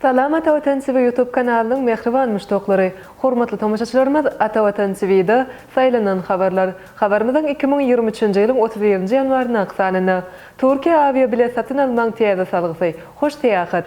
Salam Ata Watan TV YouTube kanalynyň mähriban muşdaklary! Hormatly tomaşaçylarymyz, Ata Watan TV-da Saýlanan habarlar. Habarymyzyň iki müň ýigrimi üçünji ýylyň otuz birinji ýanwaryndaky sanynda, Türkiýe awiabilet satyn almagyň täze salgysy, Hoş Syýahat!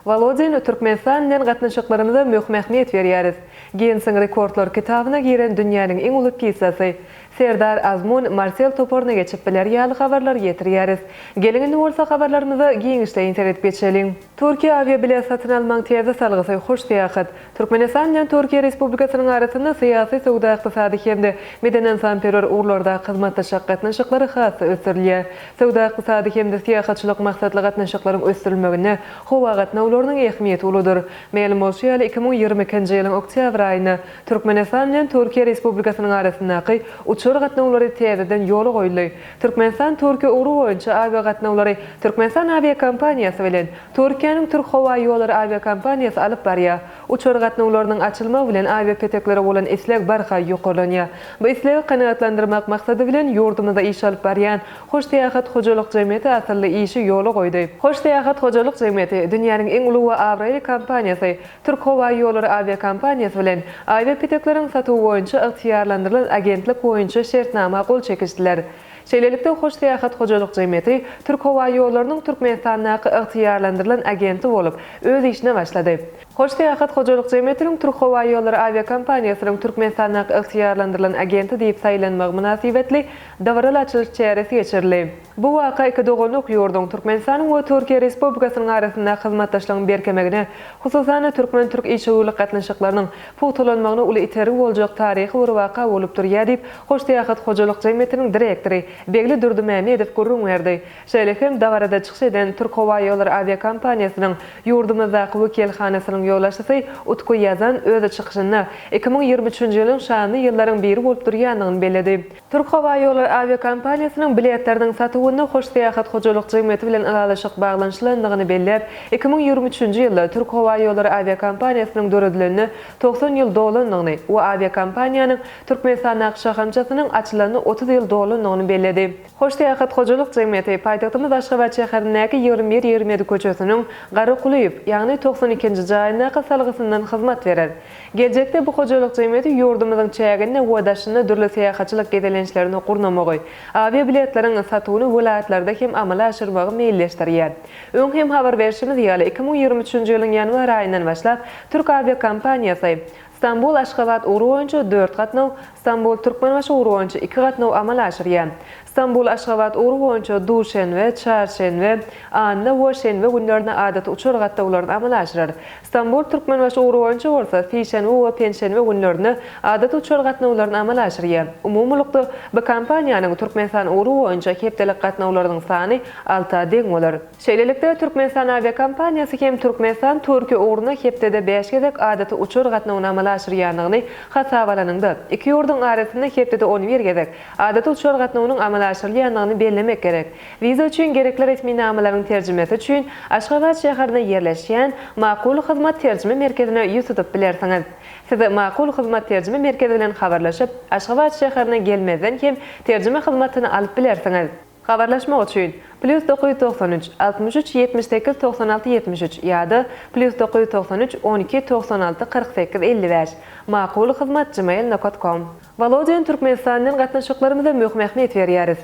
Wolodin, Türkmenistan bilen gatnaşyklarymyza möhüm ähmiýet berýäris. Ginnesiň rekordlar kitabyna giren dünýäniň iň uly pizzasy. Serdar Azmun, Marsel toparyna geçip biler ýaly habarlary ýetirýäris. Geliň indi bolsa habarlarymyza giňişleýin seredip geçeliň. Türkiýä awiabilet satyn almagyň täze salgysy, Hoş Syýahat. Türkmenistan bilen Türkiýe Respublikasynyň arasynda syýasy, söwda-ykdysady hem-de medeniynsanperwer ugurlardaky hyzmatdaşlyk gatnaşyklary has-da ösdürilýär. Söwda-ykdysady hem-de syýahatçylyk maksatly gatnaşyklaryň ösdürilmeginde howa gatnawlarynyň ähmiýeti uludyr. Mälim bolşy ýaly, iki müň ýigrimi ikinji ýylyň oktýabr aýynda Türkmenistan bilen Türkiýe Respublikasynyň arasyndaky uçar gatnawlary täzeden ýola goýuldy. Türkmenistan-Türkiýe ugry boýunça awiagatnawlary Türkmenistan awiakompaniýasy bilen Türkiýäniň Türkhowaýollary awiakompaniýasy alyp barýar. Uçar gatnawlarynyň açylmagy bilen awiapeteklere bolan isleg barha ýokarlanýar. Bu islegi kanagatlandyrmak maksady bilen ýurdumyzda iş alyp barýan Hoş Seýahat hojalyk jemgyýeti asylly işi ýola goýdy. Hoş Seýahat hojalyk jemgyýeti dünýäniň iň uly we abraýly kompaniýasy Türkhowaýollary awiakompaniýasy bilen awiapetekleriň satuwy boýunça ygtyýarlandyrylan agentlik boýunça şertnama gol çekişdiler. Şeýlelikde, Hoş Syýahat hojalyk jemgyýeti Türkhowaýollarynyň Türkmenistandaky ygtyýarlandyrylan agenti bolup, öz işine başlady. Hoş Syýahat hojalyk jemgyýetiniň Türkhowaýollary awiakompaniýasynyň Türkmenistandaky ygtyýarlandyrylan agenti diýip saýlanmagy mynasybetli dabaraly açylyş çäresi geçirildi. Bu waka iki doganlyk ýurduň, Türkmenistanyň we Türkiýe Respublikasynyň arasyndaky hyzmatdaşlygyň berkemegine, hususan-da, türkmen-türk işewürlik gatnaşyklarynyň pugtalanmagyna uly itergi boljak taryhy bir waka bolup durýar diýip, Hoşsyýahat hojalyk jemgyýetiniň direktory Begli Durdymämmedow gürrüň berdi. Şeýle hem dabarada çykyş eden Türkhowaýollary awiakompaniýasynyň ýurdumyzdaky wekilhanasynyň ýolbaşçysy Utku Ýazan öz çykyşynda iki müň ýigrimi üçünji ýylyň şanly ýyllaryň biri bolup durýandygyny belledi. Türk howa ýollary awiakompaniýasynyň biletleriniň satuwyna Hoş Syýahat hojalyk jemgyýeti bilen ylalaşyk baglanyşylandygyny belläp, iki müň ýigrimi üçünji ýylda Türk howa ýollary awiakompaniýasynyň döredilenine togsan ýyl dolandygyny we awiakompaniýanyň Türkmenistandaky şahamçasynyň açylanyna otuz ýyl dolandygyny belledi. Hoş Syýahat hojalyk jemgyýeti paýtagtymyz Aşgabat şäherindäki ýigrimi bir ýigrimi ýedi köçesiniň Garakulyýew, ýagny togsan ikinji jaýyndaky salgysyndan hyzmat berer. Geljekde bu hojalyk jemgyýeti ýurdumyzyň çäginde we daşynda dürli syýahatçylyk gezelençlerini gurnamagy, awiabiletleriň satuwyny welaýatlarda hem amala aşyrmagy meýilleşdirýär. Öň hem habar berşimiz ýaly, iki müň ýigrimi üçünji ýylyň ýanwar aýyndan başlap, türk awiakompaniýasy Stambul, Aşgabat ugry boýunça dört gatnaw, Stambul, Türkmenbaşy ugry boýunça iki gatnaw amala aşyrýar. Stambul-Aşgabat ugry boýunça duşenbe, çarşenbe, anna we şenbe günlerine adaty uçar gatnawlaryny amala aşyrar. Stambul-Türkmenbaşy ugry boýunça bolsa sişenbe we penşenbe günlerine adaty uçar gatnawlaryny amala aşyrýar. Umumylykda, bu kompaniýanyň Türkmenistan ugry boýunça hepdelik gatnawlarynyň sany alta deň bolar. Şeýlelikde, Türkmenistan awiakompaniýasy hem Türkmenistan Türkiýe ugruna hepdede bäş gezek adaty uçar gatnawyny amala aşyrýandygyny hasaba alanyňda, iki ýurduň arasynda hepdede on bir gezek adaty uçar gatnawynyň amala aşyrylýandygyny bellemek gerek. Wiza üçin gerekli resminamalaryň terjimesi üçin Aşgabat şäherinde ýerleşýän Makul hyzmat terjime merkezine ýüz tutup bilersiňiz. Siz Makul hyzmat terjime merkezi bilen habarlaşyp, Aşgabat şäherine gelmezden hem terjime hyzmatyny alyp bilersiňiz. Habarlaşmak üçin, Plýus dokuz ýüz togsan üç, altmyş üç, ýetmiş sekiz, togsan alty, ýetmiş üç, ýa-da, Plýus dokuz ýüz togsan üç, on iki, togsan alty, kyrk sekiz, elli bäş, Makul hyzmat gmail nokat kom. Wolodyň Türkmenistan bilen gatnaşyklarymyza möhüm ähmiýet berýäris.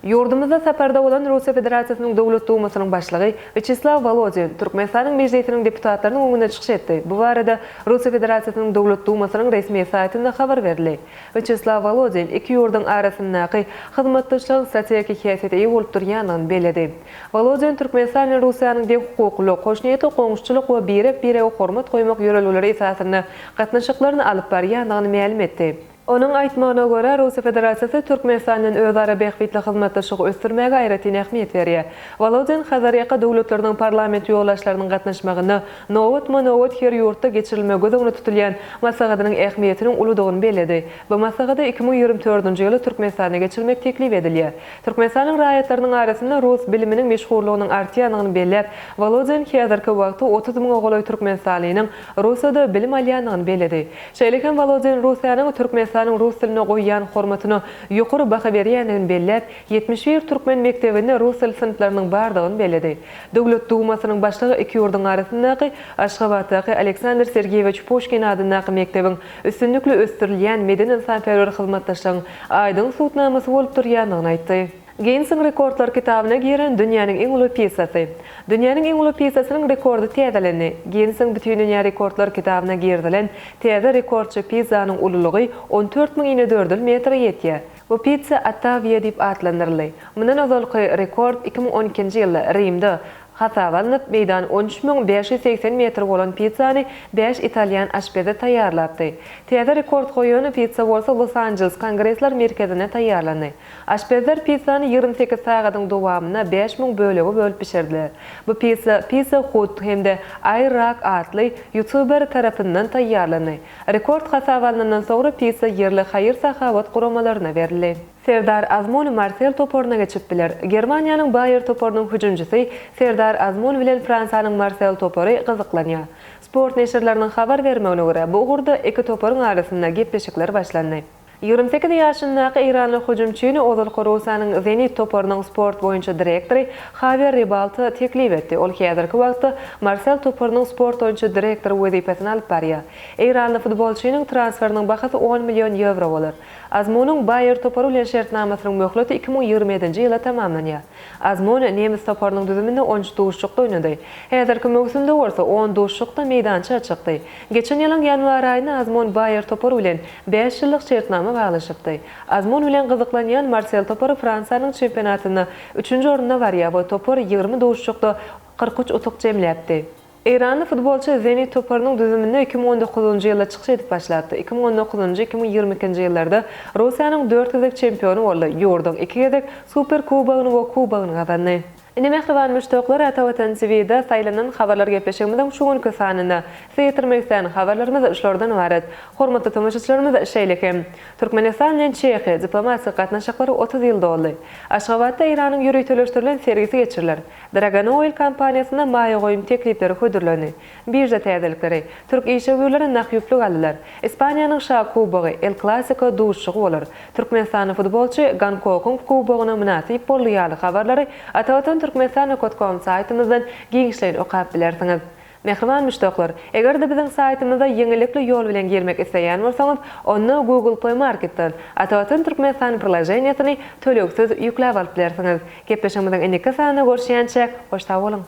Ýurdumyzda saparda bolan Russiýa Federasiýasynyň Döwlet Dumasynyň Başlygy Wýaçeslaw Wolodin Türkmenistanyň Mejlisiniň deputatlarynyň öňünde çykyş etdi, bu barada Russiýa Federasiýasynyň Döwlet Dumasynyň resmi saýtynda habar berildi. Wýaçeslaw Wolodin iki ýurduň arasyndaky hyzmatdaşlygyň strategik häsiýete eýe bolup durýandygyny belledi. Wolodin Türkmenistan bilen Russiýanyň deňhukuklylyk, hoşniýetli goňşuçylyk we birek-birege hormat goýmak ýörelgeleri esasynda gatnaşyklaryny alyp barýandygyny mälim etdi. Onuň aýtmagyna görä, Russiýa Federasiýasy Türkmenistan bilen özara bähbitli hyzmatdaşlygy ösdürmäge aýratyn ähmiýet berýär. Wolodin Hazarýaka döwletleriniň parlament ýolbaşçylarynyň gatnaşmagynda Nobatma-nobat her ýurtda geçirilmegi göz öňünde tutulýan maslahatynyň ähmiýetiniň uludygyny belledi. Bu maslahady iki müň ýigrimi dördünji ýyly Türkmenistanda geçirmek teklip edilýär. Türkmenistanyň raýatlarynyň arasynda rus biliminiň meşhurlygynyň artýandygyny belläp, Wolodin häzirki wagty otuz müňe golaý türkmenistanlynyň Russiýada bilim alýandygyny belledi. Şeýle hem Wolodin Russiýanyň Türkmenistanyň rus diline goýýan hormatyna ýokary baha berýändigini belläp, ýetmiş bir türkmen mekdebinde rus dili synplarynyň bardygyny belledi. Döwlet Dumasynyň başlygy iki ýurduň arasyndaky Aşgabatdaky Aleksandr Sergeýewiç Puşkin adyndaky mekdebiň üstünlikli ösdürilýän medeni-ynsanperwer hyzmatdaşlygyň aýdyň subutnamasy bolup durýandygyny aýtdy. Ginnesiň rekordlar kitabyna giren dünýäniň iň uly pizzasy. Dünýäniň iň uly pizzasynyň rekordy täzelendi. Ginnesiň Bütindünýä rekordlar kitabyna girizilen täze rekordçy pizzanyň ululygy on dört müň inedördül metre ýetýär. Bu Pizza Ottavia diýip atlandyryldy. Mundan ozalky rekord iki müň on ikinji ýylda Rimde hasaba alnyp, meýdany on üç müň bäş ýüz segsen metr bolan pizzany bäş italýan aşpezi taýýarlapdy. Täze rekord goýan pizza bolsa Los-Anjeles Kongresler merkezinde taýýarlandy. Aşpezler pizzany ýigrimi sekiz sagadyň dowamynda bäş müň bölege bölüp bişirdiler. Bu pizza Pizza Hut hem-de Air Rack atly ýutuber tarapyndan taýýarlandy. Rekord hasaba alnandan soňra pizza ýerli haýyr-sahawat guramalaryna berildi. Serdar Azmun Marsel toparyna geçip biler. Germaniýanyň Baýer toparynyň hüjümçisi Serdar Azmun bilen Fransiýanyň Marsel topary gyzyklanýar. Sport neşirleriniň habar bermegine görä, bu ugurda iki toparyň arasynda gepleşikler başlandy. Ýigrimi sekiz ýaşyndaky eýranly hüjümçini ozalky Russiýanyň Zenit toparynyň sport boýunça direktory Hawier Ribalta teklip etdi, ol häzirki wagtda Marsel toparynyň sport boýunça direktory wezipesini alyp barýar. Eýranly futbolçynyň transferiniň bahasy on million ýewro bolar. Azmunyň Baýer topary bilen şertnamasynyň möhleti iki müň ýigrimi ýedinji ýyla tamamlanýar. Azmun nemes toparynyň düzüminde on üç duşuşykda oýnady. Häzirki möwsümde bolsa on duşuşykda meýdança çykdy. Geçen ýylyň ýanwar aýynda Azmun Baýer topary bilen bäş ýyllyk şertnama baglaşypdy. Azmun bilen gyzyklanýan Marsel topary Fransiýanyň çempionatynda üçünji orunda barýar we topar ýigrimi duşuşykda kyrk üç utuk jemläpdi. Eýranly futbolçy Zenit toparynyň düzüminde iki müň on dokuzynjy ýylda çykyş edip başlapdy. Iki müň on dokuzynjy, iki müň ýigrimi ikinji ýyllarda Russiýanyň dört gezek çempiony boldy, ýurduň iki gezek Super kubogyny we kubogyny gazandy. Ine mähriban muşdaklar Ata Watan TVda saýlanan habarlar gepleşigimiziň şu günki sanyny syýetirmek islän habarlarymyz şulardan ybarat. Hormatly tomaşaçylarymyz şeýle hem Türkmenistan bilen Çehiýa diplomatik gatnaşyklary otuz ýyl doldy. Aşgabatda Eýranyň ýöriteleşdirilen sergisi geçiriler. Dragon Oil kompaniýasyna maýa goýum teklipleri hödürlendi. Birža täzelikleri, Türk işewürleri nah ýüplük aldylar. Ispaniýanyň Şa kubogy, El Klasiko, duşuşygy bolar. Türkmenistanly futbolçy Gonkogung kubogyna mynasyp boldy ýaly habarlary Atavatan Turkmenistan nokot kom saýtymyzdan giňişleýin okap bilersiňiz. Mähriban muşdaklar, eger-de biziň saýtymyza ýeňillikli ýol bilen girmek isleýän bolsaňyz, onda Google Play Marketden Atawatan Türkmenistan proloženiýesini tölegsiz ýükläp alyp bilersiňiz. Gepleşigimiziň indiki sanynda görüşýänçä, hoş sag boluň!